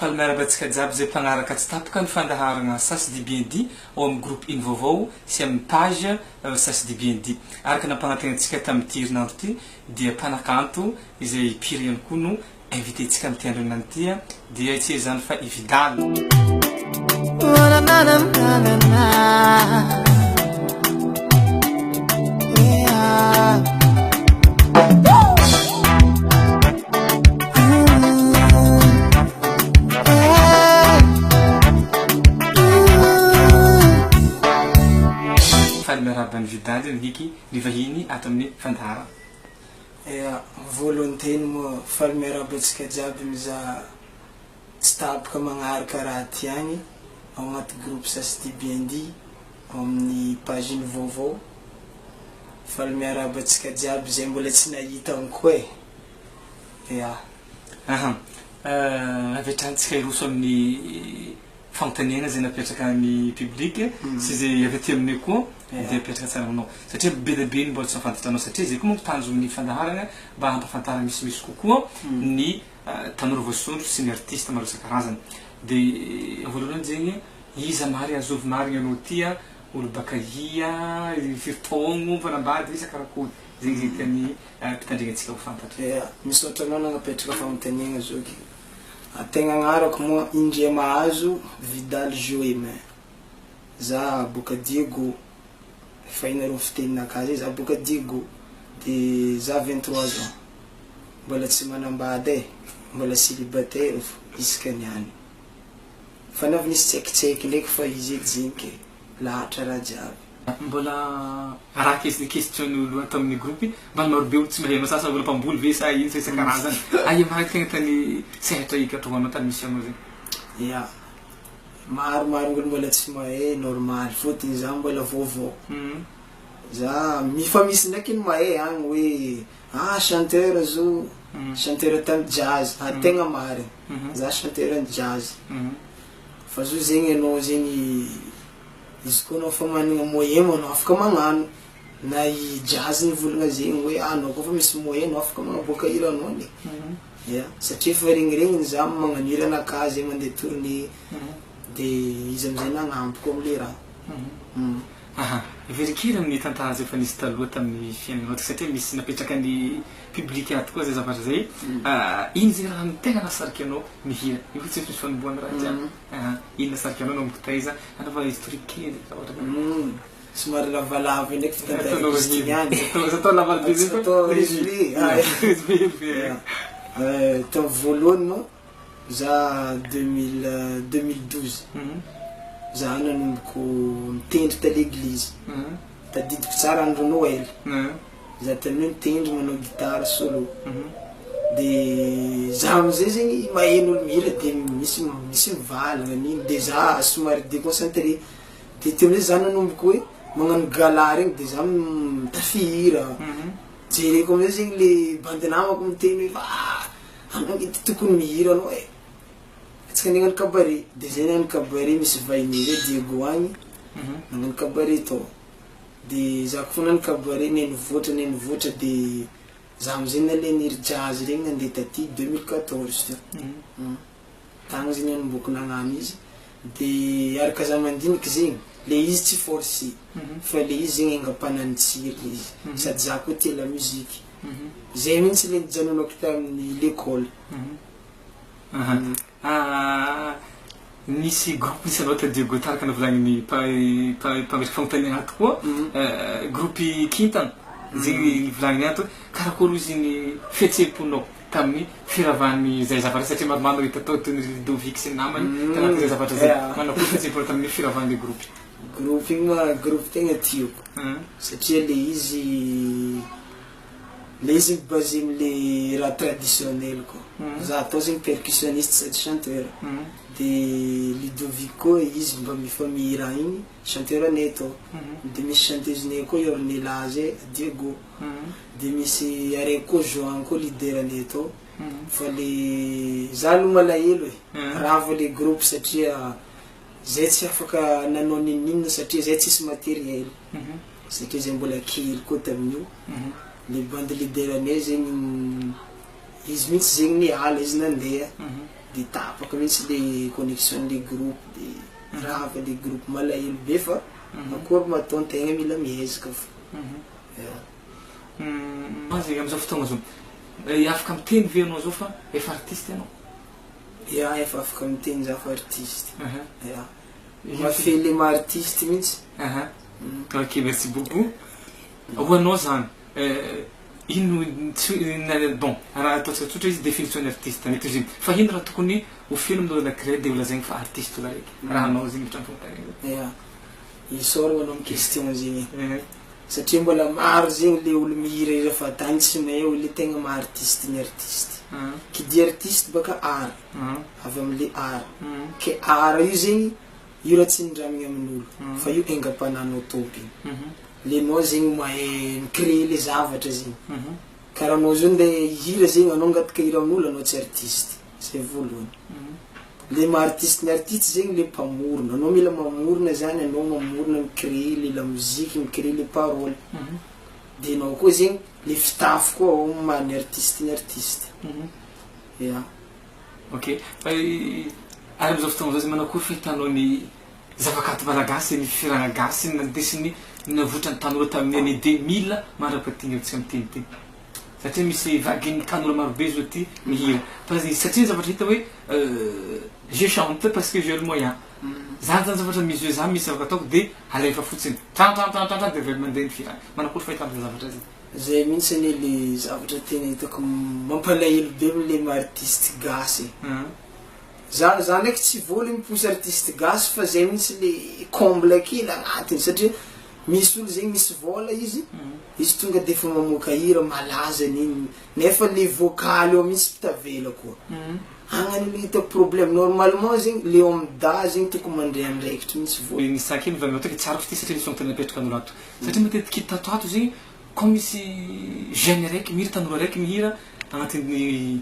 Faly miarahaba antsika jiaby izay mpanaraka tsy tapaka ny fandaharana sas dit bien dit ao amin'ny groupe iny vaovao sy amin'ny page sas dit bien dit. Araka ny nampagnantenaintsika tamin'ity herinandro ity dia mpanakanto izay mpihira ihany koa no Invité tsika amty andro anona ity a dia tsy ezany fa i vidal. Faly miarahaba an'i Vidal Nicky, ny vahiny ato amin'ny fandaharana. Ea, volonté ny moa fa le miarahaba antsika jiaby mizaha tsy tapaka magnaraka raha aty agny ao agnaty groupe Sasitibnd ao amin'ny page ny vaovao fa le miarahaba antsika jiaby zay mbola tsy nahita agny koa eh! Ea. Aha, avy hatrany tsika hiroso amin'ny fanontaniana izay napetraka ny public sy izay avy aty aminay koa dia apetraka tsara aminao satria be dia be ny mbola tsy nahafantatranao satria izay koa manko tanjon'ny fandaharana mba hampafantara misimisy kokoa ny tanora voasondro sy ny artiste maro isan-karazany dia voalohany zegny iza mary azovy marigny anao tia olo bakaia firy taogno mpanambady ve sa karakory zegny zegny tian'ny mpitandregny antsika ho fantatra. Misaotra anao nanapetraka fanontaniana zoky. Tegna agnarako moa indré mahazo Vidal Joemin. Za boka Diego, efa hainareo fiteninakahy zay, za boka Diego de za vingt trois ans, mbola tsy manambady e, mbola célibataire fô isaka niany. Fanaovana izy tsiekitsieiky ndraiky fa izy edy zegny ke lahatra raha jiaby. Mbola raha kes de question ny olo ato aminy groupe mbola maro be olo tsy mahay masasa mbola mpamboly ve sa ino sa isakarazany aia ma aty tegna tany sehatra ikatrohano tany misy anao zegny. Ya, maro maro olo mbola tsy mahay normal fotony za mbola vaovao za fa misy ndraiky ny mahay agny hoe ah chanteur zo chanteur tany jazz ah tegna marigny za chanteur ny jazz Fa zao zegny anao zegny izy koa anao efa managna moyen manao afaka magnano na i jazz nivolagna zegny hoe ah anao koa efa misy moyen anao afaka magnaboaka hira anao ne ya satria efa regniregniny za magnano hira anakah zay mandeha tournée de izy amizay nagnampy koa amle raha. Aha, very kely amin'ny tantara izay efa nisy taloha tamin'ny fiainanao ity satria misy napetraka ny public ato koa izay zavatra izay Ino izay raha ny tena nahasarika anao mihira? Io ve tsy efa misy fanombohana raha ity an? Aha, iny nahasarika anao nanomboka taiza? Anaovana historique kely raha ohatra ka. Somary lavalava indray ity tantara ity izy ity ihany e. Aza atao lavalbe be fa. Aza atao résumé. Résumé be. Tamin'ny voalohany moa Za deux mille deux mille douze za nanomboko nitendry ta leglizy tadidiko tsara andro noel za taloha nitendry manao gitara solo de za amizay zegny maheno olo mihira de misy misy mivalagna an'igny de za somary deconcentre de teo amizay za nanomboko hoe magnano gala regny de za mitafy hira jereko amizay zegny le bandy namako miteny hoe ah. Anao ity tokony mihira anao e! Atsika andeha agnano cabaret. Dia zay nagnano cabaret misy vahiny zay Diego agny nagnano cabaret tao. Dia za koa nagnano cabaret ne nivoatra ne nivoatra dia za amizay naleha niry jazz regny nandeha taty deux mille quatorze teo. Tagny zay nanomboako nagnano izy. Dia araka za mandiniky zegny, le izy tsy force fa le izy zegny enga-panahy nitsiry le izy. Sady za koa tia lamusique. Zay mintsy le nijanonako tamin'ny lekôly. Aha. Ah, nisy groupe nisy anao tadidio go taraka novolagnin'ny mpa- mpa- mpametraka fanontaniana ato koa, groupe kintana, zay nivolagniny ato hoe karakôry ozy ny fihetseham-ponao tamin'ny firavan'izay zavatra satria maromaro no hita tao toy ny Ludovic sy ny namany tanatin'izay zavatra zay, manakôry fihetseham-ponao tamin'ny firavan'le groupe. Groupe io ma groupe tegna tiako satria le izy le izy mi-baser amle raha traditionnel ko za atao zegny percussionniste sady chanteur de Ludovic ko izy mba mifamihira igny chanteur nay atao de misy chanteuse nay ko i Ornella zay Diego de misy araiky ko Johan ko leader nay atao fa le za aloha malahelo e ravo le groupe satria Zay tsy afaka nanao ninoninona satria zay tsisy materiel satria zay mbola kely koa taminio le bandy leader nay zegny izy mintsy zegny niala izy nandeha de tapaka mintsy le connection le groupe de rava le groupe malahelo be fa akory ma atao tegna mila miezaka fô. Mazava amizao fotoagna zao afaka miteny ve anao zao fa efa artiste anao. Ya efa afaka miteny zaho artiste ya mahafehy le maha artiste mintsy aha ok merci beaucoup ho anao zany ino bon raha ataontsika tsotra izy definition ny artiste mety ho izy iny fa ino raha tokony ho feno amin'ny olona anankiray de ho lazainy fa artiste olona raiky raha anao zegny trano fampianarana ya isaoro anao ny question zegny Satria mbola maro zegny le olo mihira hira fadany tsy mahay hoe le tegna maha artiste ny artiste. Qui dit artiste baka art, avy amle art. Ke art io zegny io raha tsy nindramigny aminolo fa io aingam-pananao tompiny. Le anao zegny mahay mi-creer le zavatra zegny. Karaha anao zao nde hihira zegny anao angataka hira aminolo anao tsy artiste. Zay voalohany. Le maha artiste ny artiste zegny le mpamorona. Anao mila mamorona zany anao mamorona mi créer le lamoziky mi créer le parole. De enao koa zegny le fitafy koa ao am maha ny artiste ny artiste. Ya. Ok. Fa i ary amzao fotoagna zao zegny manao akory fahitanao ny zavakanto malagasy ny fihiragna gasy na ny dessinée navotra ny tanora tamin'ny année deux mille mandra paty ny amintsika miteniteny. satria misy vaguen'ny tanora marobe zao tia mihira fa izy satria ny zavatra hita hoe je chante parce que j'ai le moyen zany zany zavatra misy hoe za misy zavatra ataoko de alefa fotsiny trantrantrantrantran de avela mandeha ny fira manakory fahitana zay zavatra zay zay mihitsy anie le zavatra tena hitako mampalahelo be amle maha artiste gasy e za za ndraiky tsy voa le mi-pousse artiste gasy fa zay mihitsy le comble kely agnatiny satria Misy olo zegny misy vôla izy, izy tonga defa mamoaka hira malaza nini nefa le vocal eo mintsy tavela koa. Agnany olo hita problème, normalement zegny le eo amin'ny dahy zegny tokony mandray andraikitry mintsy vôla. Ny sac iny vraiment tena tsy arako ty satria le son tena apetrakan'olo ato. Satria matetiky hita ato ato zegny kô misy jeune araiky mihira tanora araiky mihira agnatin'ny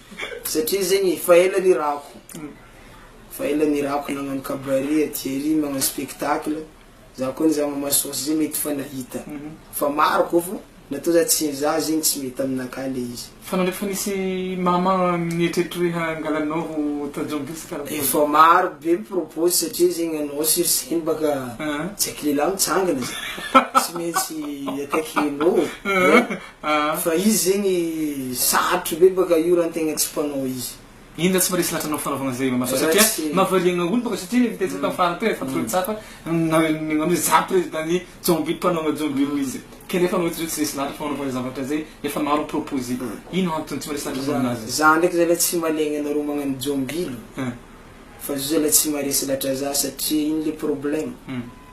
Satria zegny efa ela nirako, efa ela nirako nagnano cabaret aty ery magnano spectacle, za koa nizaha mama sôsy zay mety fa nahita fa maro koa fô natô za tsy za zegny tsy mety aminakahy le izy. Fa nandre fa nisy mama nieritreritra hoe hangala anao ho tanjongisy karakory? Efa maro be mi-propose satria zegny anao sur scène baka tsaiky lehilahy mitsangana zany tsy maintsy attaquer-nao, Fa izy zegny sarotro be baka io raha tegna tsy mpanao izy. Iny zah tsy maharesy lahatra anao fanaovagna zay Mamaso satria mahavariagna olo baka satria hitantsika tam farany teo efa tolony tsapa nagnome anao zah président ny jomby mpanao jomby roa izy kanefa anao tsy resy lahatra fanaovagna zay zavatra zay efa maro proposer ino antony tsy maharesy lahatra aminazy. Zah ndraiky zalah tsy malegna anareo magnano jomby fa zah zalah tsy maharesy lahatra zah satria ino le problème.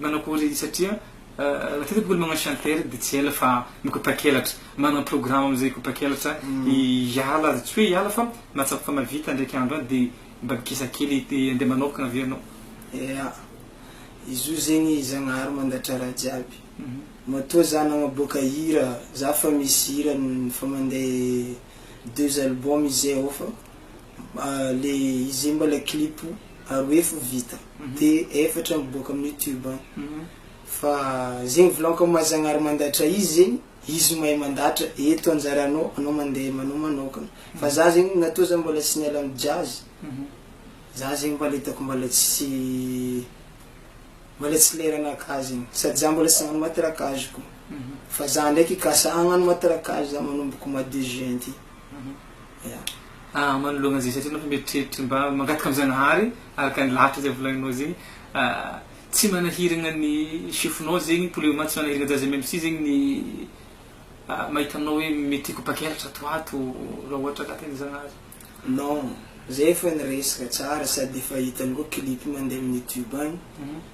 Manakory izy satria matetika bôka ny magnano chanteur de tsy ela fa mikopakelatra, manana programme amizay hikopakelatra hiala tsy hoe hiala fa mahatsapa fa mahavita ndraiky andro any de mba mikisa kely de ande manokana aveo anao. Ia, izy io zegny Zagnahary mandatra raha jiaby, matoa za nagnaboaka hira za fa misy hira efa mande deux album izay ao fa le izy zay mbala clip aroefo vita de efatra miboaka amin'ny youtube any fa zegny volaniko am'maha zagnahary mandatra izy zegny izy mahay mandatra eto anjaranao anao mandeha manao manokana fa za zegny natoa za mbola tsy niala amy jazz za zegny mbala hitako mbala tsy mbala tsy leranakah zegny sady za mbola tsy nagnano matraquage koa fa za ndraiky kasa hagnano matraquage za manomboko mois de juin ty. Aah manoloana izay satria anao efa mieritreritra mba mangataka amin'ny Zanahary araka ny lahatra izay volaninao zegny tsy manahiragna ny chefonao zegny pour le moment tsy manahiragna za zay même si zegny ny mahita anao hoe mety hikopakelatra ato ho ato raha ohatra ka tegna Zagnahary. Non, zay efa niresaka tsara sady efa hitanao clip mandeha amin'ny youtube agny.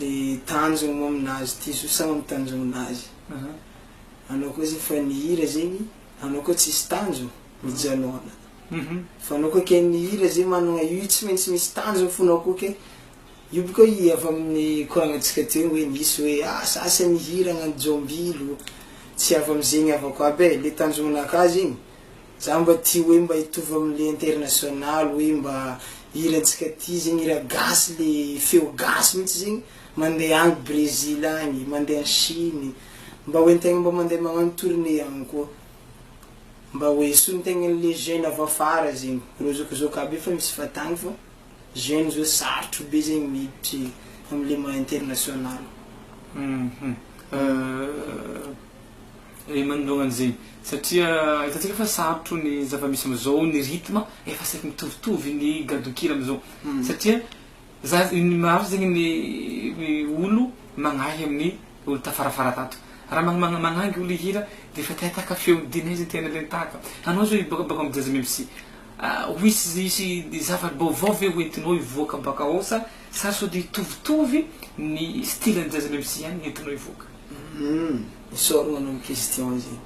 le tanjogno moa aminazy ty zo sa am tanjogno azy anao koa zegny fa nihira zegny anao koa tsisy tanjogno mijanona fa anao koa ke nihira zegny managna io tsy maintsy misy tanjogno fonao koa ke io boka i avy aminy koragna tsika teo hoe nisy hoe asa asa nihira agnano jombilo tsy avy amizegny avako aby e le tanjogno naka zegny Za mba tia hoe mba hitovy am le international hoe mba hira ntsika ty zegny hira gasy le feo gasy mintsy zegny mande any Brezil any mande any Chine mba hoe ntegna mba mande magnano tourne any koa mba hoe hisontegnany le jeune avy afara zegny reo zao ko zao ka be fa misy fatagny fa jeune zao sarotro be zegny miditry amle maha international. Eny manoloana an'izay, satria hitantsika fa sarotro ny zava-misy amin'izao, ny rythme efa saiky mitovitovy ny gadon-kira amin'izao, satria za ny maro zegny ny ny olo magnahy amin'ny olo tafarafara tato, raha magn- magn- magnangy olo hihira de efa te ataka feo, de nay zegny te nale nitahaka, anao zao hiboaka baka amin'ny jazz mem si ho hisy hisy zava-baovao ve ho entinao hivoaka baka ao sa sa sody hitovitovy ny style-n'ny jazz mem si ihany no entinao hivoaka? Isaorana anao ny question zegny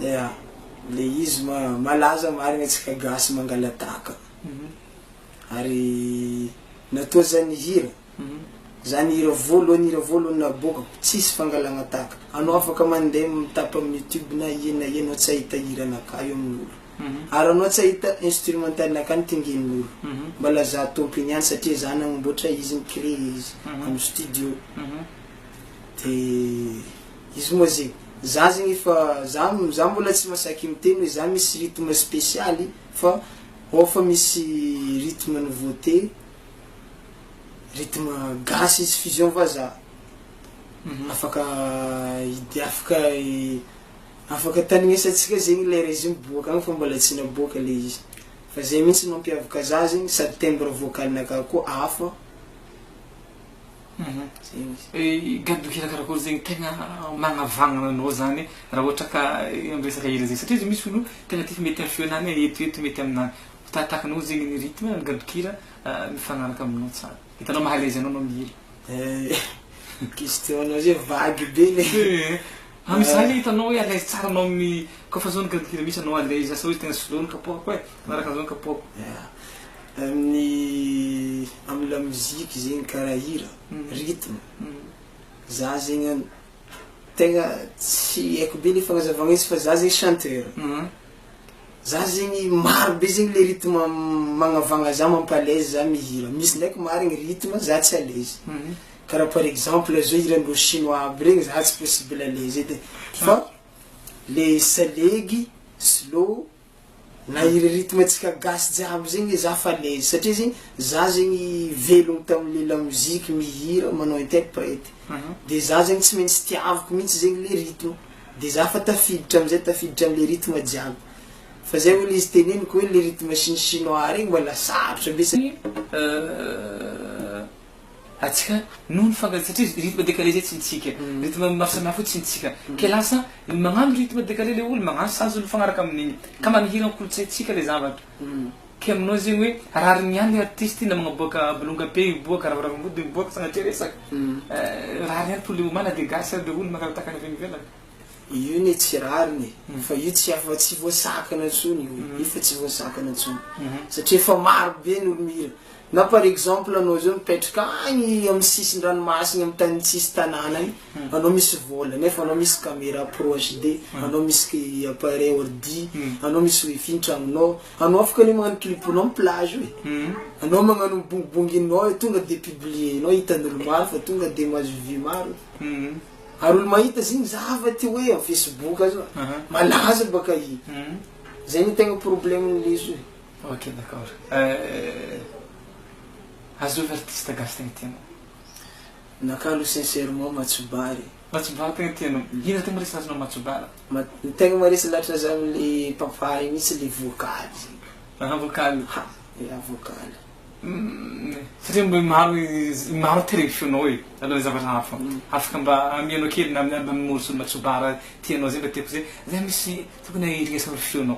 ya le izy malaza marigny atsika gasy mangalataka ary natoa zany hira zany hira voalohany hira voalohany naboaka tsisy fangalagna taka anao afaka mande mitapo aminy youtube na ia na ia anao tsy ahita hira anakahy eo aminy olo ary anao tsy ahita instrumental nakahy nitingigny olo mba lazà tompiny any satria za nagnamboatra izy ni-cree izy aminy studio. De izy moa ze, za zegny efa za za mbola tsy masaiky miteny hoe za misy rythme spesialy fa ao fa misy rythme nouveauté, rythme gasy izy fusion vazaha, afaka hid- afaka afaka taninesantsika zegny le régime boaka agny fa mbola tsy naboaka le izy, fa zay mihitsy mampiavaka za zegny sady timbre vocal-nakà koa hafa. Gadoky hira karakory zegny tegna magnavagnana anao zany raha ohatra ka am resaka hira zegny satria izy io misy olo tegna tiako mety am feonao na eto eto mety aminao fa tahatahaky anao zegny ny rythme ny gadon-kira mifagnaraka aminao tsara hitanao maha alaise anao anao mihira eh question anao zay vague be le ah misy zany le hitanao hoe alaise tsara anao amin'ny kôfa zao ny gadon-kira misy anao alaise asa hoe tegna slow ny kapohako eh magnaraka an'zao ny kapohako Amin'ny amin'ny la musique zegny karaha hira, rythme, za zegny an tegna tsy haiko be le fagnazavagna izy fa za zegny chanteur, za zegny maro be zegny le rythme magnavagna za mampalaise za mihira, misy ndraiky marigny rythme za tsy alaise, karaha par exemple zao hiran'ireo chinois aby regny za tsy possible alaise edy e, fa le salegy, slow. Na i rythme antsika gasy jiaby zegny le za fa l'aise satria zegny za zegny velogno tamin'le lamoziky mihira manao interprète de za zegny tsy maintsy tiaviko mintsy zegny le rythme de za fa tafiditra amizay tafiditra amle rythme jiaby fa zay olo izy teneniko hoe le rythme chine chinois regny mbola sarotra be satria Atsika noho ny fangany satria izy rythme décalé zay tsy ny tsika. Rythme maro samihafa io tsy ny tsika. Ke lasa ny magnano rythme décalé le olo magnano sazy olo mifagnaraka amin'igny. Ka mba mihira an-kolotsaintsika le zavatra. Ke aminao zegny hoe rariny ihany le artiste na magnaboaka bolonga be miboaka, ravoravo ambody miboaka sagnatria resaka. Rariny ihany poulet homard na dia gasy ary le olo mangalataka any avy any ivelany. Io ne tsy rariny e. Fa io tsy efa tsy voasakana intsony io e. Io efa tsy voasakana intsony. Satria efa maro be ny olo mihira. Na par exemple anao zao mipetraka agny amin'ny sisin-dranomasina amin'ny tany tsisy tanàna agny, anao misy vôla nefa anao misy camera proche de, anao misy appareil ordi, anao misy wifi an-tragnonao, anao afaka anie magnano clip-nao am plage ao e, anao magnano mibongibonginao e, tonga de publier-nao hitan'olo maro fa tonga de mahazo vue maro e, ary olo mahita zegny mizaha fa te hoe am facebook zao malaza baka i, zay no tegna problème-n'izy io e. Ok d'accord euh, azovy artiste gasy tegna tianao? Naka aloha sincèrement Matsoba e. Matsoba tegna tianao, ino tegna maresy azonao Matsoba? Mat- ny tegna maresy latra za amle papa io mintsy le vocal zegny. Aha vocal. Ha, ya vocal. Umm satria mbola maro izy maro te regny feonao e alohan'ny zavatra hafa afaka mba amianao kely na amin'ny album morceau-n'i Matsoba raha tianao zay mba tiako zay, zay misy tokony iresahan'ny feonao.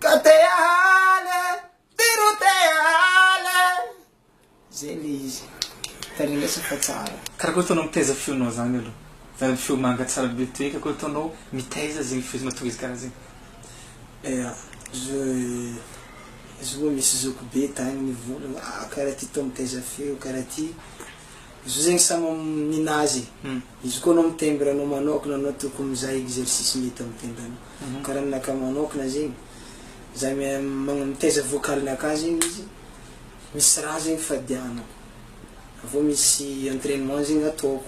Ka te hahala e, ty ro te hahala e. Zay le izy. Tanindrasa fa tsara. Karaha koa ataonao mitaiza feonao zany aloha. Zany le feo manga tsara be toy ka koa ataonao mitaiza zegny feo mahatonga izy karaha zegny. Eya zo zo moa misy zoky be tagny mivolagna ah karaha ty tô mitaiza feo karaha ty. Zo zegny samy ninazy e. Izy koa anao mitendry anao manokana anao tokony mizaha exercice mety amin'ny tendanao karaha ny anakahy manokana zegny za mitaiza vocal nakahy zegny izy misy raha zegny fadianako avy eo misy entrainement zegny ataoko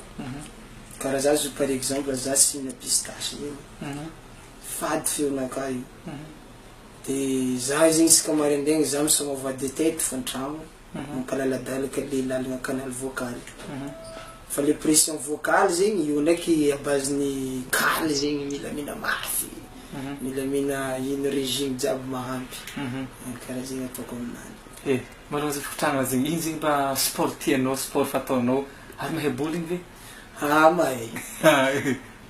karaha za zao par exemple za tsy hihina pistache zegny fady feonakahy io de za zegny isaka maraindraigny za misaoma voix de tête fa an-tragno. mampalaladalaka le lalagna canal vocal fa le pression vocal zegny io ndraiky à base ny kaly zegny milamina mafy milamina ino regime jiaby mahampy kara zegny ataoko aminany. E, maroza fikotragna zegny, ino zegny mba sport tianao, sport fataonao, ary mahay bowling ve? Haa mahay,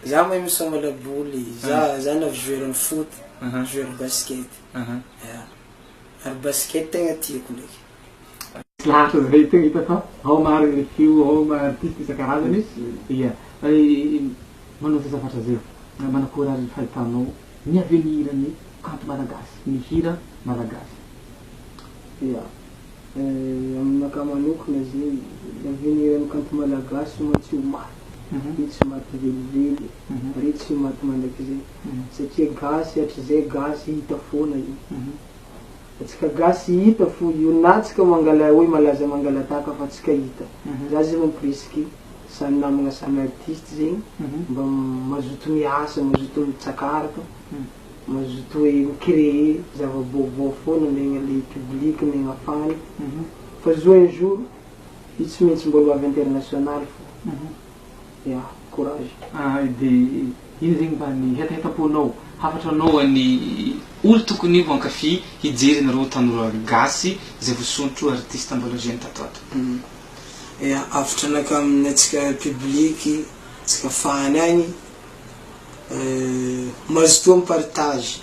za mahay misôma laboly, za za na joueur ny foot, joueur basket, ya. ary basket tegna tiako ndraiky. Lasa zay tegna hita fa ao marigny le feo ao ma artiste isan-karazany ia fa i manao zay zavatra zay manakôry ary ny fahitanao ny avenir ny kanto malagasy ny hira malagasy ia aminakahy manokana zegny ny avenir ny kanto malagasy moa tsy ho maty io tsy maty velively io ary io tsy ho maty mandrakizay. Satria gasy hatrizay gasy hita foana io atsika gasy hita fo io na atsika mangala oe malaza mangalataka fa atsika hita za zegny presque samy namagna samy artiste zegny mba mazoto miasa mazoto mitsakaraka mazoto oe mi cree zava baovao foana miaigna le public miaigna fan fa zo un jour io tsy maintsy mbola ho avy international fo Ya, courage. Ah dia ino zegny mba ny hetahetam-ponao hafatra anaoan'ny olo tokony ho ankafy hijery anareo tanora gasy izay vosontro artiste mbola jeune tato ato. Ya, avotra anakam antsika public tsika fan agny mazotoa mi partage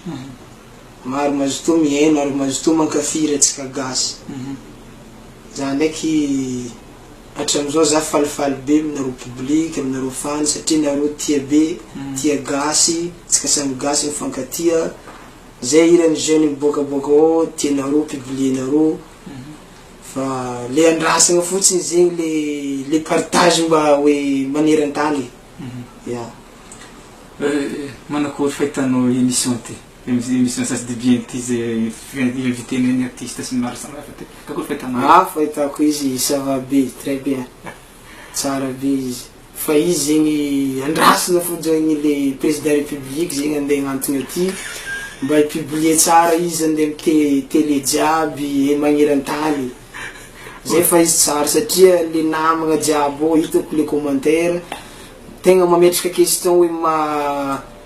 maro mazotoa mihaino ary mazotoa mankafy hira tsika gasy za ndraiky. Hatramizao za falifaly be aminareo public, aminareo fans satria nareo tia be, tia gasy, tsika samy gasy mifankatia, zay hiran'ny jeune miboaka boaka ao tianareo publier nareo, fa le andrasana fotsiny zegny le le partage mba hoe manerantany e, ya. Manakory fahitanao emission ty? Misy ny sasy DBNT izay inviter-na ny artiste sy ny maro samihafa teo. Ka koa fahitana azy. Ah fahitako izy ça va be, très bien, tsara be izy. Fa izy zegny andrasana fotsiny le président république zegny andeha agnantogny aty mba hi publier tsara izy andeha am te télé jiaby e magnerantany zay fa izy tsara satria le namagna jiaby ô hitako le commentaire tegna mametraka question hoe ma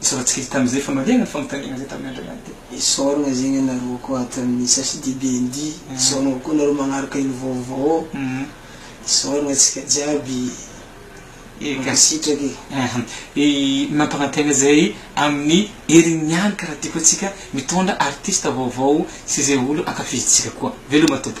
Nisoratsika izy tamin' izay famaliana ny fanontaniana izay tamin' Andriana ny teny. Isaoragna zegny anareo koa ato amin'ny CHDBND, isaoragna koa nareo magnaraka ilo vaovao, isaoragna antsika jiaby e, mankasitraka e. Aha, i mampagnantegna zay amin'ny heriny ihany ka raha tiako antsika mitondra artista vaovao sy izay olo ankafizintsika koa. Veloma Tompo.